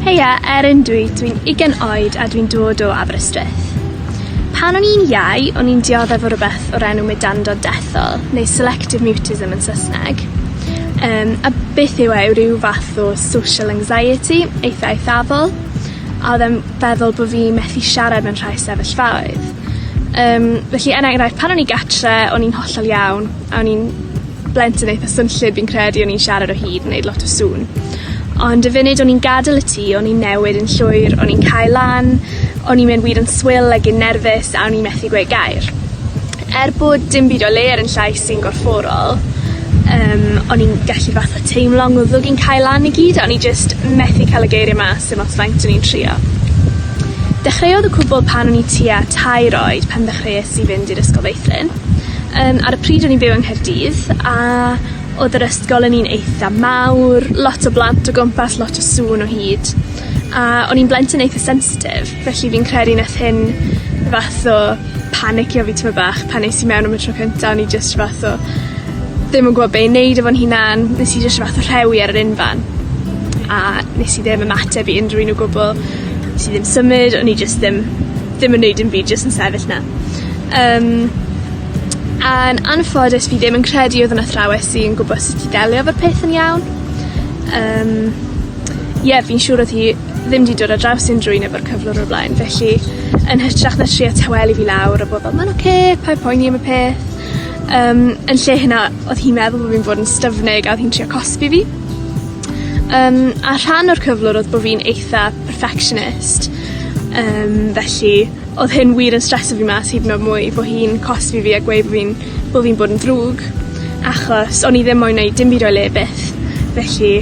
Heia, Erin dwi, dwi'n 20 oed a dwi'n dod o Aberystwyth. Pan o'n i'n iau, o'n i'n dioddef o rywbeth o'r enw mudando dethol, neu selective mutism yn Sysneg. Um, a beth yw e yw ryw fath o social anxiety eitha eithafol, a oedd e'n feddwl bod fi methu siarad mewn rhai sefyllfaoedd. Um, felly er enghraifft, pan o'n i gatre, o'n i'n hollol iawn, a o'n i'n blentyn eitha swnllyd fi'n credu o'n i'n siarad o hyd yn neud lot o sŵn. Ond y funud o'n i'n gadel y tŷ o'n i'n newid yn llwyr o'n i'n cau lan o'n i'n mynd wir yn swil ag yn nerfus a o'n i methu gweud gair. Er bod dim byd o le ar 'yn llais i'n gorfforol yym o'n i'n gallu fatha teimlo ngwddwg i'n cau lan i gyd a o'n i jyst methu ca'l y geirie mas dim ots faint o'n i'n trio. Dechreuodd y cwbwl pan o'n i tua tair oed pan ddechreues i fynd i'r Ysgol Feithrin. Yym ar y pryd o'n i'n byw yng Nghaerdydd a odd yr ysgol yn un eitha mawr lot o blant o gwmpas lot o sŵn o hyd a o'n i'n blentyn eitha sensitif felly fi'n credu nath hyn fath o panicio fi tymed bach pan es i mewn am y tro cynta o'n i jyst fath o ddim yn gwbo be' i neud efo'n hunan nes i jyst fath o rhewi ar yr unfan a nes i ddim ymateb i unrhyw un o gwbwl nes i ddim symud o'n i jyst ddim ddim yn neud dim byd jyst yn sefyll 'na. Yym. Yn anffodus fi ddim yn credu odd 'na athrawes sy yn gwbod sut i delio 'fo peth yn iawn. Yym. Ie fi'n siŵr odd hi ddim 'di dod ar draws unryw un efo'r cyflwr o'r blaen felly yn hytrach na trio tawelu fi lawr a bod fel ma'n oce paid poeni am y peth yym yn lle hynna odd hi'n meddwl bo' fi'n bod yn styfnig a odd hi'n trio cosbi fi. Yym a rhan o'r cyflwr odd bo' fi'n eitha perfectionist yym felly Odd hyn wir yn streso fi mas hyd yn o'd mwy bo' hi'n cosbi fi a gweu' bo' fi'n bo' fi'n bod yn ddrwg achos o'n i ddim moyn neud dim byd o'i le byth felly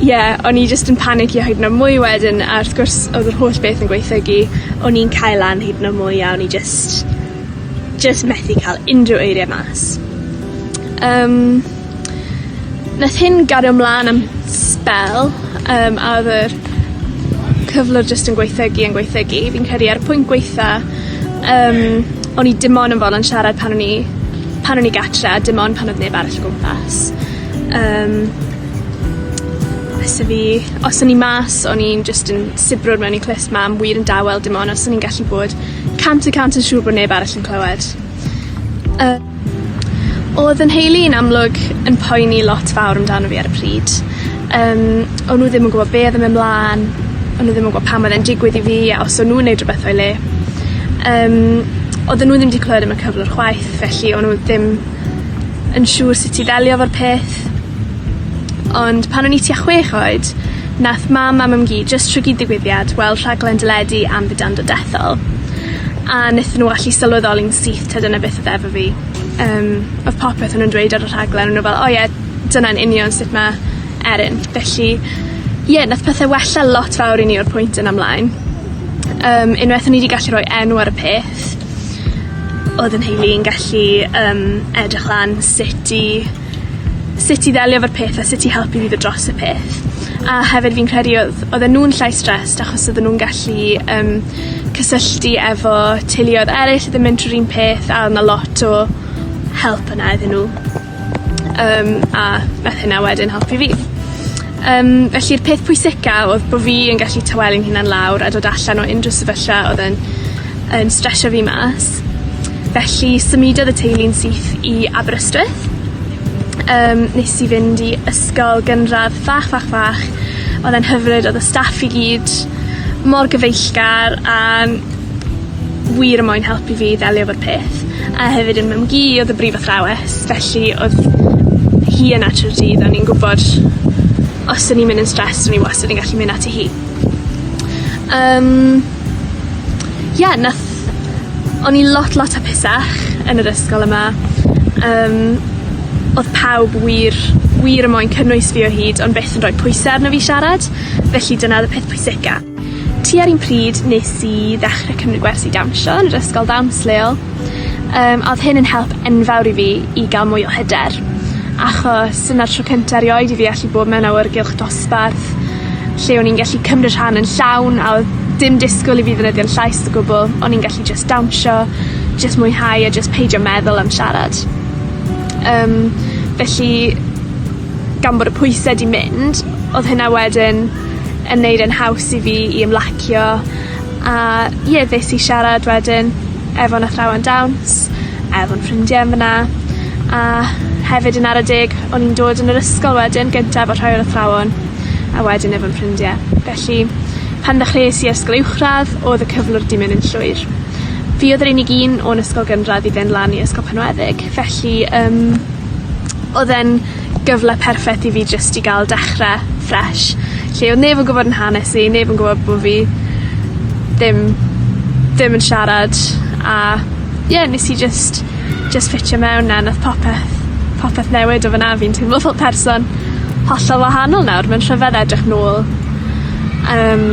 ie o'n i jyst yn panicio hyd yn o'd mwy wedyn a wrth gwrs odd yr holl beth yn gwaethygu o'n i'n cau lan hyd yn o'd mwy a o'n i jyst jyst methu ca'l unryw eirie mas. Yym. Nath hyn gario mlan am sbel yym a odd yr cyflwr jyst yn gwaethygu yn gwaethygu fi'n credu a'r pwynt gwaetha yym o'n i dim on' yn fo'lon siarad pan o'n i pan o'n i gatre a dim ond pan odd neb arall o gwmpas. Yym. Fysa fi os o'n i mas o'n i'n jyst yn sibrwd mewn i clust mam wir yn dawel dim on' os o'n i'n gallu bod cant y cant yn siŵr bo' neb arall yn clywed. Yy. Odd 'yn nheulu i'n amlwg yn poeni lot fawr amdano fi ar y pryd. Yym o'n nw ddim yn gwbo be' odd yn myn' mlan, o'n nw ddim yn gwbo pam odd e'n digwydd i fi a os o'n nw'n neud rwbeth o'i le. Yym odden nw ddim 'di clywed am y cyflwr chwaith felly o'n nw ddim yn siŵr sut i ddelio 'fo'r peth. Ond pan o'n i tua chwech oed Nath mam a mam-gu jyst trwgi digwyddiad weld rhaglen deledu am fidando dethol, a nethon nw allu sylweddoli'n syth t'od dyna beth odd efo fi. Yym odd popeth o' nw'n dweud ar y rhaglen o' nw fel o ie dyna'n union sut ma' Erin. Felly ie nath pethe wella lot fawr i ni o'r pwynt yna mlaen. Yym unweth o'n i 'di gallu roi enw ar y peth odd 'yn nheulu yn gallu yym edrych lan sut i sut i ddelio 'fo'r peth a sut i helpu fi fod dros y peth. A hefyd fi'n credu odd odden nw'n llai stressed achos odden nw'n gallu yym cysylltu efo teuluodd eryll odd yn mynd trw'r un peth a odd 'na lot o help yna iddyn nw. Yym a nath hynna wedyn helpu fi. Yym felly'r peth pwysica odd bo' fi yn gallu tawelu'n hunan lawr a dod allan o unryw sefyllfa odd yn yn stresio fi mas. Felly symudodd y teulu'n syth i Aberystwyth. Yym nes i fynd i ysgol gynradd fach fach fach odd e'n hyfryd odd y staff i gyd mor gyfeillgar a wir yn moyn helpu fi i ddelio efo'r peth, a hefyd yn mam gu odd y brif athrawes, felly odd hi yna trw'r dydd a o'n i'n gwbod os o'n i'n myn' yn stressed o'n i wastad yn gallu myn' ati hi. Yym. Ie nath... O'n i lot lot hapusach yn yr ysgol yma, yym odd pawb wir wir yn moyn cynnwys fi o hyd ond byth yn roi pwyse arno fi siarad, felly dyna odd y peth pwysica. Tua'r un pryd nes i ddechre cymryd gwersi dawnsio yn yr ysgol ddawns leol yym a odd hyn yn help enfawr i fi i ga'l mwy o hyder achos dyna'r tro cynta erioed i fi allu bod mewn awyrgylch dosbarth lle o'n i'n gallu cymryd rhan yn llawn a odd dim disgwl i fi ddefnyddio'n llais o gwbwl o'n i'n gallu jyst dawnsio jyst mwynhau a jyst peidio meddwl am siarad. Yym felly gan bod y pwyse 'di mynd odd hynna wedyn yn neud e'n haws i fi i ymlacio, a ie nes i siarad wedyn efo'n athrawon dawns, a efo'n ffrindie yn fyna, a hefyd yn ara deg o'n i'n dod yn yr ysgol wedyn gyntaf o rhai o'r athrawon, a wedyn efo'n ffrindie. Felly, pan ddechreues i ysgol uwchradd odd y cyflwr 'di myn' yn llwyr. Fi odd yr unig un o'n ysgol gynradd i fyn' lan i ysgol Penweddig felly yym odd e'n gyfle perffeth i fi jyst i ga'l dechre fresh lle odd neb yn gwbod 'yn hanes i neb yn gwbod bo' fi ddim dim yn siarad a ie nes i jyst jyst ffitio mewn a nath popeth popeth newid o fana fi'n teimlo fel person hollol wahanol nawr ma'n rhyfedd edrych nôl yym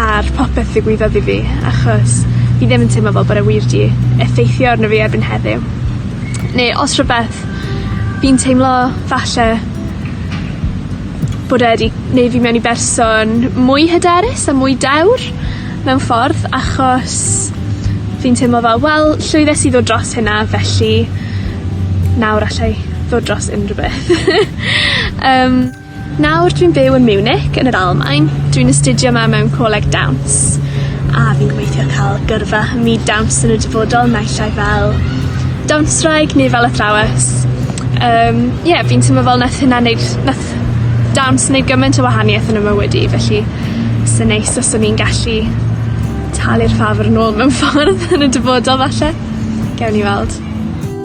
ar popeth ddigwyddodd i fi achos fi ddim yn teimlo fel bod e wir 'di effeithio arno fi erbyn heddiw. Ne' os rhwbeth fi'n teimlo falle bod e 'di neu' fi mewn i berson mwy hyderus a mwy dewr mewn ffordd achos fi'n teimlo fel wel llwyddes i ddod dros hynna felly nawr allai ddod dros unrywbeth. Yym. Nawr dwi'n byw yn Munich yn yr Almaen, dwi'n astudio 'ma mewn coleg dawns, a fi'n gobeithio ca'l gyrfa ym myd dawns yn y dyfodol naill ai fel dawnswraig neu fel athrawes yym ie fi'n timlo fel nath hynna neud nath dawns neud gyment o wahanieth yn 'ym mywyd i felly sa neis os o'n i'n gallu talu'r ffafr nôl mewn ffordd yn y dyfodol falle. Gewn ni weld.